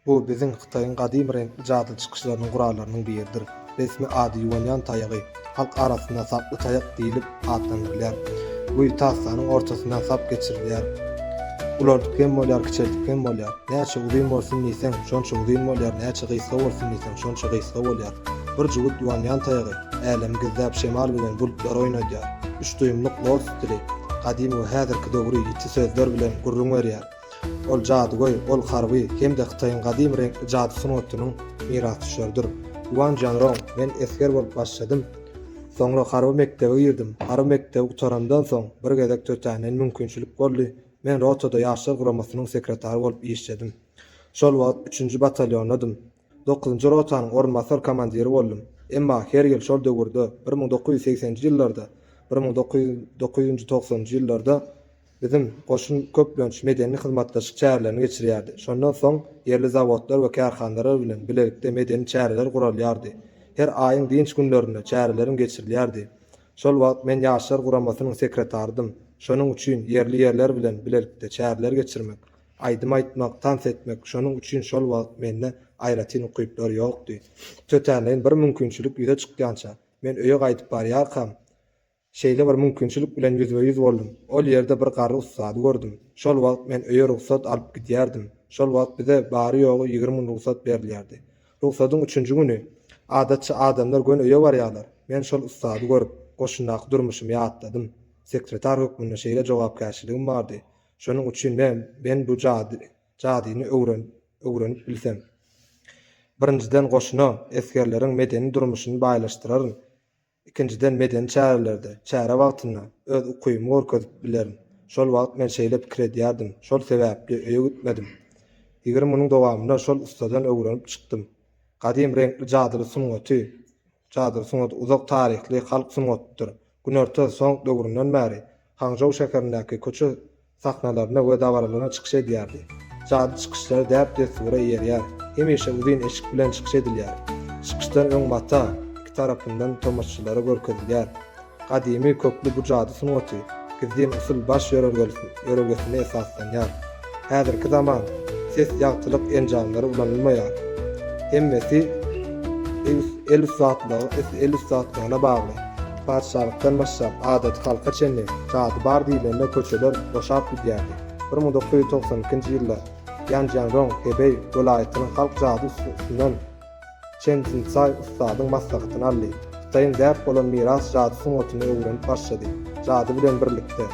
Bu biziň Hytaýyň gadymy reňkli jady çykyşlarynyň gurallarynyň biridir. Resmi ady Ýuanýan taýagy, halk arasynda saply taýak diýlip atlandyrylýar. Bu tasdanyň ortasyndan sap geçirilýär. Ulaldyp hem bolýar, kiçeldip hem bolýar. Näçe uzyn bolsun diýseň, şonça uzyn bolýar, näçe gysga bolsun diýseň, şonça gysga bolýar. Bir jübüt Ýuanýan taýagy älemi gizläp, şemal bilen bulutlary oýnadýar. Üç duýumlyk Lord stili, gadymy we häzirki döwri ýiti sözler bilen gürrüň berýär. Ol jadygöý, ol harby hem-de Hytaýyň gadymy reňkli jady sungatynyň mirasdüşeridir. Wan Janrong, Men esger bolup başladym. Soňra harby mekdebe girdim. Harby mekdebi gutarandan soň, bir gezek tötänden mümkinçilik boldy, men rotada ýaşlar guramasynyň sekretary bolup işledim. Şol wagt üçünji batalýondadym. Dokuzynjy rotanyň orunbasar komandiri boldum. Emma her ýyl şol döwürde, bir müň dokuz ýüz segsenji ýyllarda, bir müň dokuz ýüz dokuzynjy-togsanynjy ýyllarda Biziň goşun köplenç medeni hyzmatdaşlyk çärelerini geçirýärdi. Şondan soň ýerli zawodlar we kärhandalar bilen bilelikde medeni çäreler guralýardy. Her aýyň dynç günlerinde çäreleriň geçirilýärdi. Şol wagt men Ýaşlar guramasynyň sekretaridym. Şonuň üçin ýerli ýerler bilen bilelikde çäreler geçirmek, aýdym aýtmak, tans etmek, şonuň üçin şol wagt mende aýratyn ukyplar ýokdy. Tötänleýin bir mümkinçilik ýüze çykýança, men öýe gaýdyp barýarkam, Şeýle bir mümkinçilik bilen ýüzbe-ýüz boldum. Ol ýerde bir garry ussady gördüm. Şol wagt men öýe rugsat alyp gidýärdim. Şol wagt bize bary-ýogy ýigrimi gün rugsat berilýärdi. Rugsadyň üçünji güni, adatça, adamlar göni öýe barýarlar, men şol ussady görüp, goşundaky durmuşymy ýatladym. Sekretar hökmünde şeýle jogapkärçiligim bardy. Şonuň üçin men, men bu jady, jadyny öwren, öwrenip bilsem. Birinjiden goşuna, esgerleriň medeni durmuşyny baýlaşdyraryn. Ikinjiden, medeni çärelerde, çäre wagtynda öz ukybymy görkezip bilerin. Şol wagt men şeýle pikir edýärdim, şol sebäpli öýe gitmedim. Ýigrimi günüň dowamynda şol ussadan öwrenip çykdym. Gadym reňkli jadyly sungaty, jadyly sungat uzak taryhly halk sungatydyr. Günorta Song döwründen bäri Hangžou şäherindäki köçe sahnalarynda we dabaralarynda çykyş edýärdi. Jady çykyşlary däp-dessura eýerýär, hemişe uzyn eşik bilen çykyş edilýär. Çykyşdan öň mata iki tarapyndan tomaşçylara görkezilýär. Gadymy kökli bu jady sungaty gizlin usul baş ýörelgesine esaslanýar. Häzirki zaman ses ýagtylyk enjamlary ulanylmaýar. Hemmesi el ussatlygyna bagly. Patyşalykdan başlap, adaty halka çenli jady bar diýlende köçeler boşap gidýärdi. Bir müň dokuz ýüz togsan ikinji ýylda Ýanjianrong, Hebeý, welaýatynyň halk jady ussasyndan Çen Jinsaý ussadyň maslahatyny aldy. Hytaýyň däp bolan miras jady sungatyny öwrenip başlady. Jady bilen birlikde,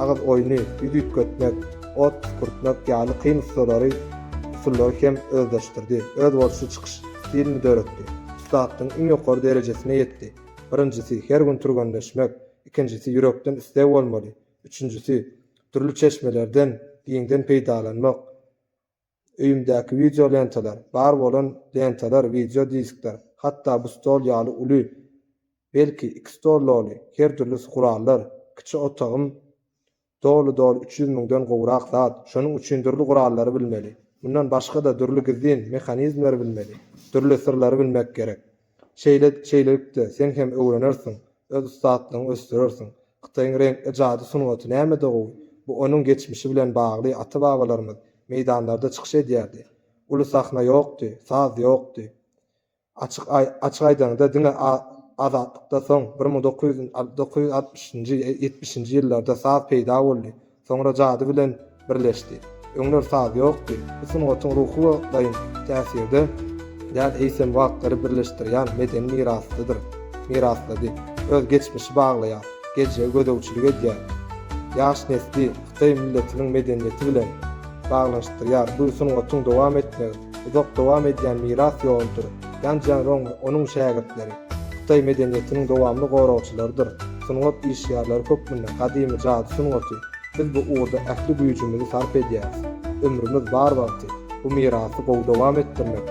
agyz oýny, ýüz üýtgetmek, ot püskürtmek ýaly kyn ussalary usullary hem özleşdirdi, özboluşly çykyş stilini döretdi. Ussadyň iň ýokary derejesine ýetdi. Birinjisi, her gün türgenleşmek, ikinjisi, ýürekden isleg bolmaly, üçünjisi, dürli çeşmelerden giňden peýdalanmak, öýümdäki wideo lentalar, bar bolan lentalar, wideo diskler, hatda bu stol ýaly uly, belki, iki stol doly, her dürlüsi gurallar, kiçi otagym Doly-doly üç ýüz müňden gowrak zat, şonuň üçin dürli gurallary bilmeli. Mundan başga-da dürli gizlin mehanizmleri bilmeli, dürli syrlary bilmek gerek. Şeýle, şeýlelikde, sen hem öwrenersiň, öz ussatlygyňy ösdürersiň. Hytaýyň reňkli jady sungaty nämede gowy? Bu onuň geçmişi bilen bagly, ata-babalarymyz meýdanlarda çykyş edýärdi. Uly sahna ýokdy, saz ýokdy. Açyk aýdaňda, diňe Azatlykda soň, bir müň dokuz ýüz dokuz ýüz altmyşynjy, ýetmişinji ýyllarda saz peýda boldy, soňra jady bilen birleşdi. Öňler saz ýokdy. Bu sungatyň ruhy wagtlaýyn täsirde däl, eýsem wagtlary birleşdirýän medeni mirasdydyr. Miraslady. Öz geçmişi baglaýar. Geljege gözegçilik edýär. Ýaş nesli hytaý milletiniň medeniýeti bilen baglanyşdyrýar. Bu sungatyň dowam etmegi. uzak dowam edýän miras ýoludyr, Ýan Jianrong we onuň şägirtleri hytaý medeniýetiniň dowamly goragçylarydyr, sungat işgärleri hökmünde gadymy jady sungaty, biz bu ugurda ähli güýjümizi sarp edýäris, ömrümiz bar wagty bu mirasy gowy dowam etdirmek,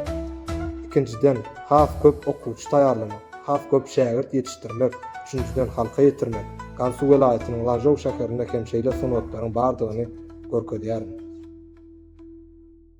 ikinjiden, has köp okuwçy taýýarlamak, has köp şägirt ýetişdirmek, üçünjiden, halka ýetirmek, Gansu welaýatynyň Lanžou şäherinde hem şeýle sungatlaryň bardygyny görkezýärin.